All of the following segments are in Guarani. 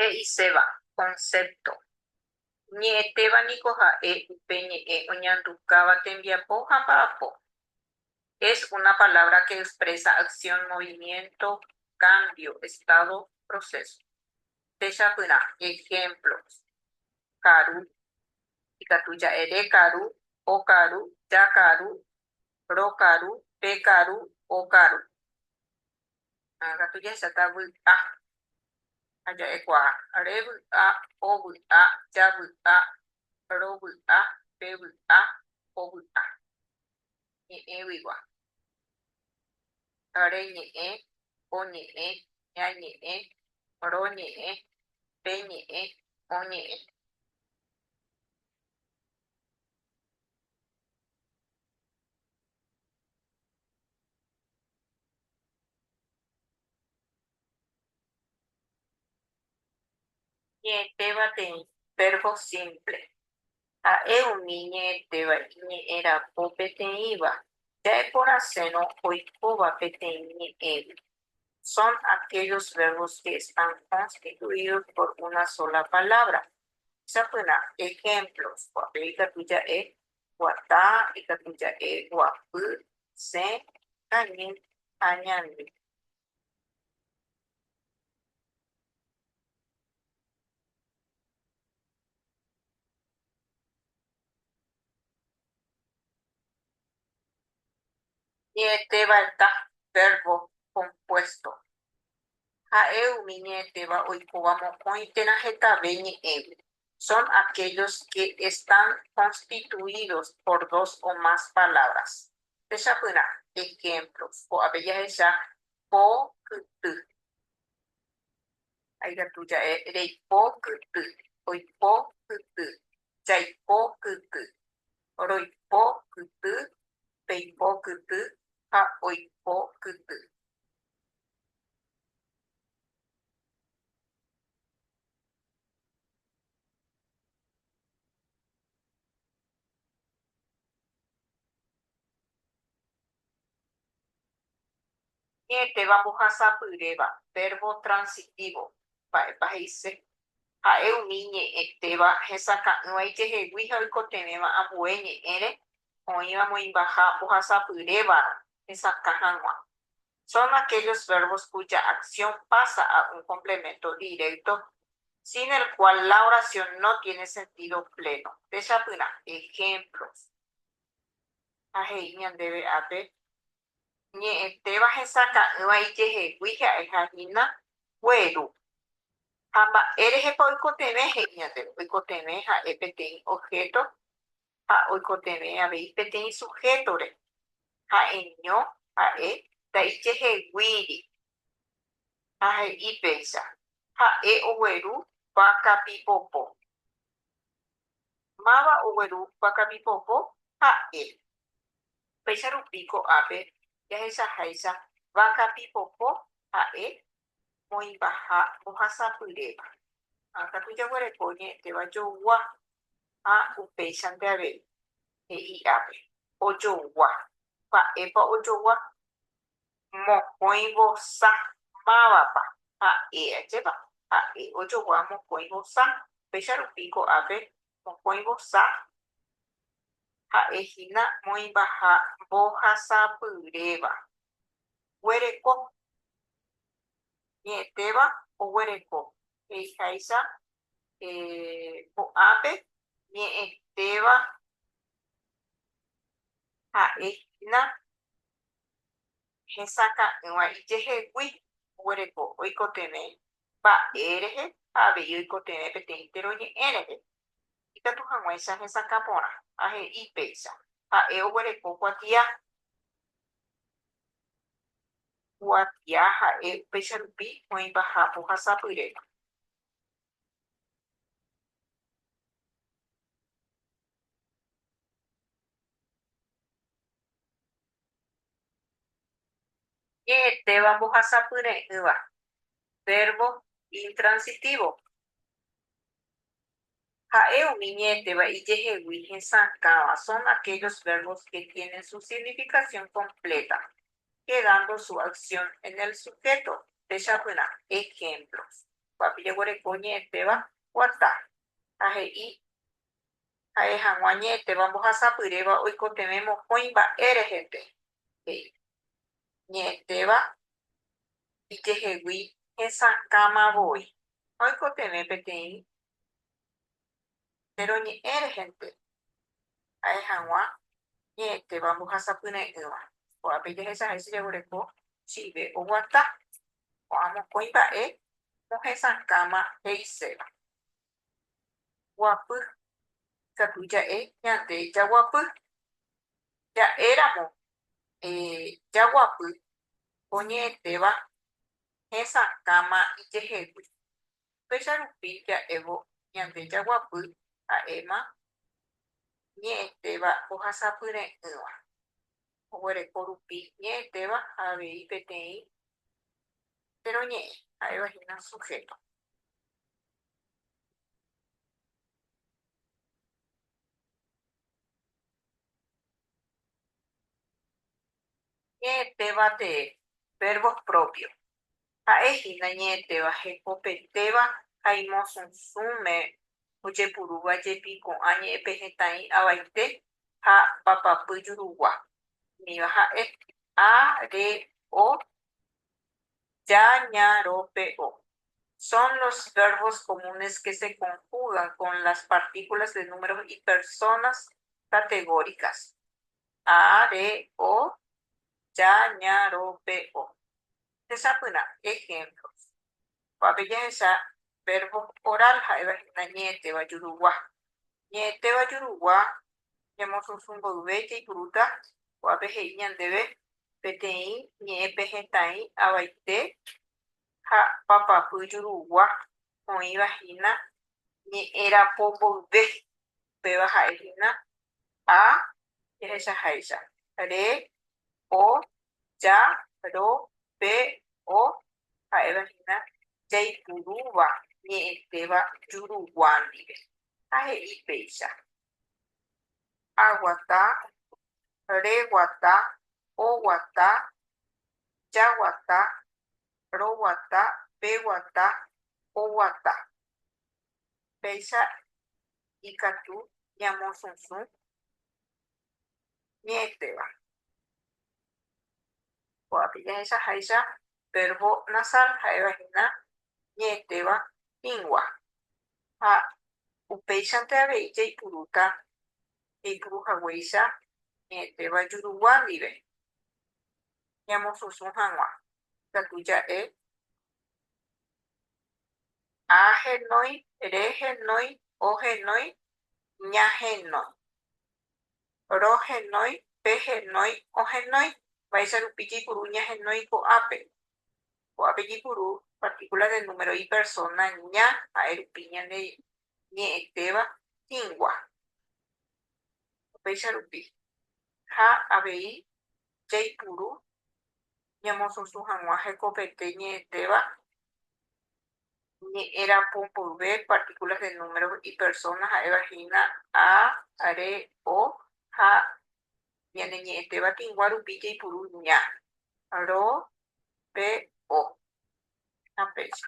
He'iséva, concepto, ñe'ẽtéva niko ha'e upe ñe'ẽ oñandukáva tembiapo ha mba'apo. Es una palabra que expresa acción, movimiento, cambio, estado, proceso. Techapyrã, ejemplos. karu, ikatu ja'e re karu, o karu, ja karu, ro karu, pe karu, o karu. Ha katu jahechata vy'a ha ja'ekuaa, re vy'a, o vy'a, ja vy'a, ro vy'a, pe vy'a, o vy'a. Ñe'ẽguigua. reñe'ẽ, oñe'ẽ, ñañe'ẽ, roñe'ẽ, peñe'ẽ, oñe'ẽ. Ñe'ẽtéva teĩ, verbo simple. Ha'e umi ñe'ẽtéva iñe'ẽ rapo peteĩva, ja'eporãsérõ oikóva peteĩ ñe'ẽgui. Son aquellos verbos que están constituidos por una sola palabra. Sapyrã ejemplos, Guape ikatu ja'e, Guata ikatu ja'e, Guapy, Sẽ, Kañy ha Ñandy. Ñe'ẽtévanta, vérbo kompuésto, ha'e umi ñe'ẽtéva oikóva mokõi térã hetave ñe'ẽgui, son aquellos que están constituidos por dos o más palabras, techapyrã ehémplo ko'ápe jahecha po kyty. Ha ikatu ja'e reipo kyty, oipo kyty, jaipo kyty, roipo kyty, peipo kyty ha oipo kyty. Héteva mbohasapyréva, vérvo transitívo, mba'épa he'ise? Ha'e umi ñe'ẽtéva hesakã'ỹva ijehegui ha oikotevẽva ambue ñe'ẽre oĩva moĩmbaha mbohasapyrévarõ hesakã hag̃ua. son aquellos verbos cuya acción pasa a un complemento directo sin el cual la oración no tiene sentido pleno. Techapyrã ejemplos. Ha he'i ñandéve ápe, Ñe'ẽtéva hesaka'ỹva ijehegui ha'eha hína gueru. Ha mba'érehepa oikotevẽ? He'i ñandéve, oikotevẽ ha'e peteĩ objeto ha oikotevẽ avei peteĩ suhétore, ha'eño ha'e ndaijeheguíri, ha he'i péicha, Ha'e ogueru vaka pipopo. Máva ogueru vaka pipopo? Ha'e. Péicha rupi ko'ápe jahechaháicha vaka pipopo ha'e oĩva ha ohasapyréva, ha katu jaguereko oñe'ẽtéva jougua ha upéichante avei he'i ápe, ojougua, mba'épa ojougua? mokõi vosa, mávapa, ha'e ajépa, ha'e ojogua mokõi vosa, péicha rupi ko'ápe mokõi vosa ha'e hína oĩvaha mbohasapyréva, Guereko. Ñe'ẽtéva oguereko. He'iháicha ko'ápe ñe'ẽtéva ha'e hína hesakã'ỹva ijehegui. Oguereko oikotevẽ mba'e rehe ha avei oikotevẽ peteĩ teroñe'ẽ rehe. Ikatu hag̃uáicha hesakã porã ha he'i péicha, Ha'e oguereko kuatia. Kuatia ha'e upéicha rupi oĩvaha pohasapyrépe. Ñe'ẽtéva mbohasapyre'ỹva, vérbo intransitívo. Ha'e umi ñe'ẽtéva ijehegui hesakãva son aquellos verbos que tienen su significación completa, quedando su acción en el sujeto. Techapyrã ejemplos. Kuápe jeguereko ñe'ẽtéva guata ha he'i ha'e hag̃ua ñe'ẽtéva mbohasapyréva oikotevẽ mokõi mba'e reheve. ñe'ẽtéva ijehegui hesakãma voi. Oikotevẽ peteĩ péro ñe'ẽ rehente, ha'e hag̃ua ñe'ẽtéva mbohasapyre'ỹva. Ko'ápe jahecha hese jaguereko chíve oguata ko'ã mokõi mba'e mohesakãma he'iséva. guapy. Ikatu ja'e ñande jaguapy. Ja'éramo jaguapy oñe'ẽtéva hesakãma ijehegui. Upéicha rupi ja'évo ñande jaguapy ha'éma ñe'ẽtéva ohasapyre'ỹva. Oguereko rupi ñe'ẽtéva ha avei peteĩ che roñe'ẽ, ha'éva hína suhéto. Ñe'ẽtéva tee, verbos propios, ha'e hína ñe'ẽtéva hekopetéva ha imosõsũme ojepurúva jepi ko'ã ñe'ẽpehẽtaĩ avaite ha papapy jurugua. Umíva ha'e, a, re, o. Ja, ña, ro, pe, o. Son los verbos comunes que se conjugan con las partículas de números y personas categóricas. A, re, o, ja, ña, ro, pe, o. Techapyrã ejemplos. Ko'ápe jahecha verbos oral ha'éva hína ñe'ẽtéva jurugua. Ñe'ẽtéva jurugua ñemosusu mboyve jaipurúta ko'ápe he'i ñandéve peteĩ ñe'ẽ pe hetãi avaite ha papapy jurugua oĩva hína ñe'ẽ rapo mboyve, upéva ha'e hína a jahechaháicha, re, o, ja, ro, pe, o, ha'éva hína jaipurúva ñe'ẽtéva jurugua ndive ha he'i péicha Aguata, reguata, oguata, jaguata, roguata, peguata, oguata. Péicha ikatu ñamosũsũ ñe'ẽtéva. Kóvape jahechaháicha vérvo nasal ha'evahína ñe'ẽtéva híngua. Ha upéichante avei jaipurúta jaipuru haguéicha ñe'ẽtéva jurugua ndive, ñamosũsũ hag̃ua ikatu ja'e a henói, re henói, o henói, ña henói, ro henói, pe henói, o henói, mba'éicha rupi jaipuru ña henói ko'ápe. Ko'ápe jepuru partíkula de número ipersóna ña ha'e rupi ñande ñe'ẽtéva hĩngua. Upéicha rupi, ha avei jaipuru ñamosũsũ hag̃ua hekopete ñe'ẽtéva ñe'ẽrapo mboyve partíkulas de número ipersóna ha'éva hína a, re, o ha ñaneñe'ẽtéva tĩgua rupi jaipuru ña, ro, pe, o ha péicha.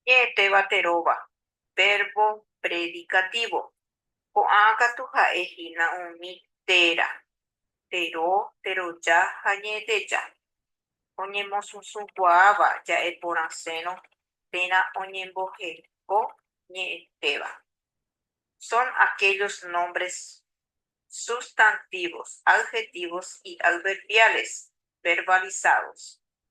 Ñe'ẽtéva teróva, vérvo predikatívo. Ko'ã katu ha'e hína umi téra, tero, teroja ha ñe'ẽteja, oñemosũsũkuaáva ja'e porãsérõ térã oñemboheko ñe'ẽtéva. Son aquellos nombres sustantivos, adjetivos y adverbiales verbalizados.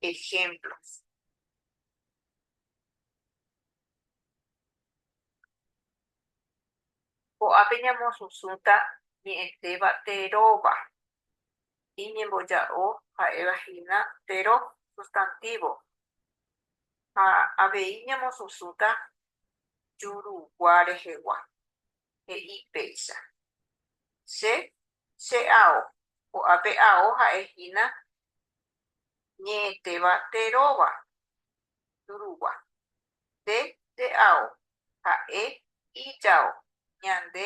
ejemplos. Ko'ápe ñamosũsũta ñe'ẽtéva teróva. Iñemboja'o ha'éva hína tero sustantívo. Ha avei ñamosũsũta jurugua rehegua. He'i péicha. Che, che ao. Ko'ápe ao ha'e hína ñe'ẽtéva nde róva Turugua, nde re'ao ha'e ijao ñande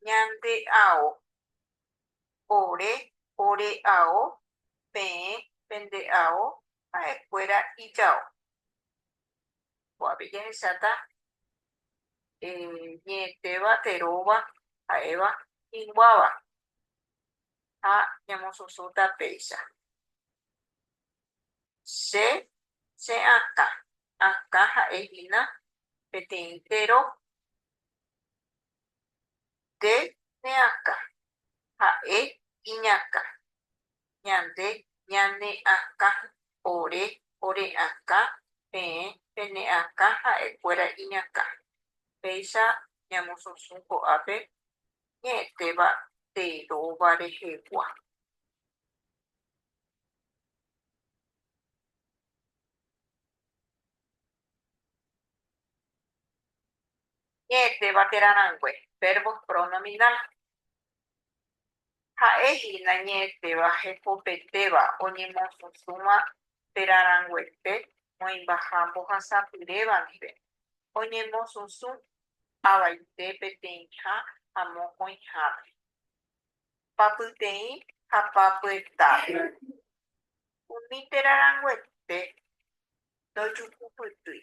ñande'ao ore ore'ao peẽ pende'ao ha'ekuéra ijao. Ko'ápe jahecháta ñe'ẽtéva nde róva ha'éva hĩnguáva ha ñamosũsũta péicha. Che che akã, akã ha'e hína peteĩ tero nde ne akã, ha'e iñakã, ñande ñane akã, ore ore akã, peẽ pene akã ha'e kuéra iñakã. Péicha ñamosũsũ ko'ápe ñe'ẽtéva tee róva rehegua. Ñe'ẽtéva térã rangue, verbos pronominal. Ha'e hína ñe'ẽtéva hekopetéva oñemosysũva térã ranguete moĩmbaha mbohasapyréva ndive, oñemosũsũ avaite peteĩha ha mokõihápe, papyteĩ ha papyetápe. Umi térã ranguete ndojukupytýi.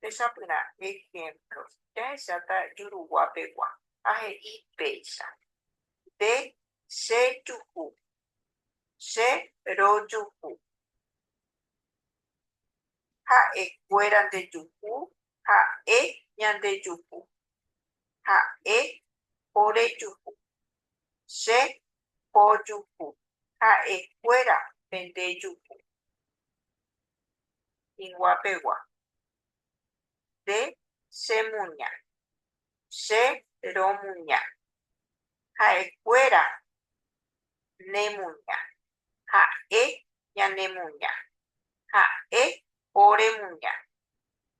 Techapyrã ehémplo jahejáta juruguapegua ha he'i péicha, Nde chejuhu. Che rojuhu. Ha'ekuéra ndejuhu. Ha'e ñandejuhu. Ha'e orejuhu. Che pojuhu. Ha'ekuéra pendejuhu. Higuapegua. Nde che muña. Che ro muña. Ha'e kuéra ne muña. Ha'e ñane muña. Ha'e ore muña.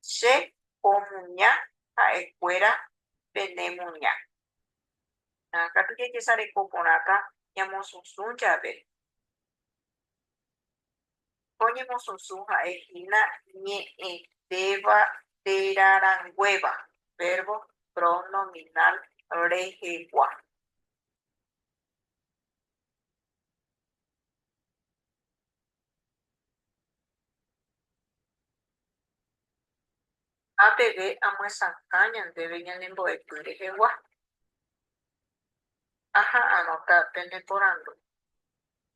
Che po muña ha'e kuéra pene muña. Katu jajesareko porãta ñamosũsũ jave. Oñemosusu ha'e hína ñe'ẽtéva téra ranguéva, vérbo pronominal rehegua. Ha peve amyesakã ñandéve ñanembo'epy rehegua. Aha anota pene porandu.